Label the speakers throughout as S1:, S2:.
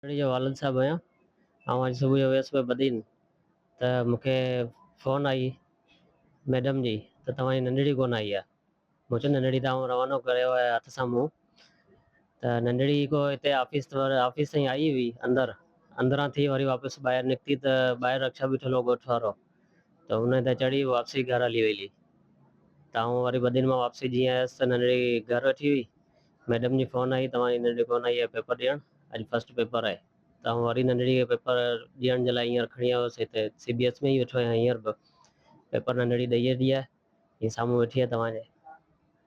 S1: ٻچڙي جو والد صاحب آهيان. آئون اڄ صبح جو ويس پئي بدين ته مون کي فون آئي ميڊم جي ته توهان جي ننڍڙي ڪونه آئي آهي. مون چيو ننڍڙي ته آئون روانو ڪريو آهي هٿ سان منهن ته ننڍڙي ڪو هتي آفيس آفيس تائين آئي هئي اندر اندران ٿي وري واپس ٻاهر نڪتي ته ٻاهر رڪشا بيٺل هو ڳوٺ وارو. ته ان تي چڙهي واپسي گهر هلي ويلي ته آئون وري ٻه ڏينهن مان واپسي جيئن آيس ته ننڍڙي گهر ويٺي هئي. ميڊم جي فون آئي ته اوهان جي ننڍڙي ڪونه آئي آهي پيپر ڏيڻ، اڄ فسٽ پيپر آهي. ته آئون وري ننڍڙي کي پيپر ڏيڻ جي لاء هينئر کڻي آيو هوس هتي سي بي ايس ۾ ئي ويٺو آهيان هينئر به پيپر ننڍڙي ڏئي ويٺي آهي هي سامهون ويٺي آهي توهان جي.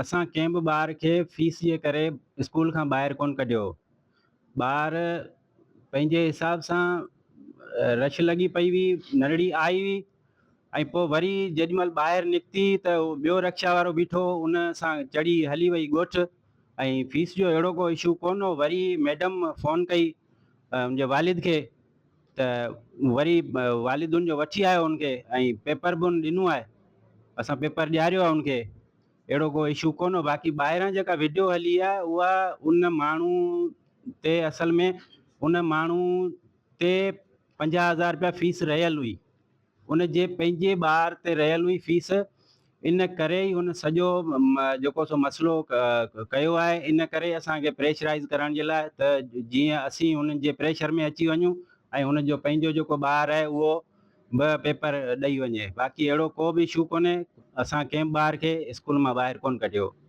S2: اسان ڪنهن به ٻار کي فيس جي ڪري اسڪول کان ٻاهر ڪونه ڪڍيو. ٻار پنهنجي حساب سان رش لڳي پئي هئي، نرڙي آئي هئي ۽ پوء وري جيڏي مهل ٻاهر نڪتي ته ٻيو رڪشا وارو بيٺو هو ان سان چڙهي هلي وئي ڳوٺ ۽ فيس جو اهڙو ڪو اشو ڪونه هو وري ميڊم فون ڪئي منهنجي والد کي ته وري والد ان جو وٺي آيو ان کي ۽ پيپر به ان ڏنو آهي اسان پيپر ڏياريو آهي ان کي اهڙو ڪو اشو ڪونه باقي ٻاهران جيڪا وڊيو هلي آهي اها ان ماڻهو تي اصل ۾ ان ماڻهو تي پنجاهه هزار رپيا فيس رهيل هئي. ان جي پنهنجي ٻار تي رهيل هئي فيس، ان ڪري ئي هن سڄو جيڪو سو مسئلو ڪيو آهي، ان ڪري اسان کي پريشرائيز ڪرڻ جي لاء ته جيئن اسين هنن جي پريشر ۾ اچي وڃون ۽ هن جو پنهنجو جيڪو ٻار آهي اهو به پيپر ڏئي وڃي، باقي اهڙو ڪو به اشو ڪونهي، اسان ڪنهن به ٻار کي اسڪول مان ٻاهر ڪونه ڪڍيو.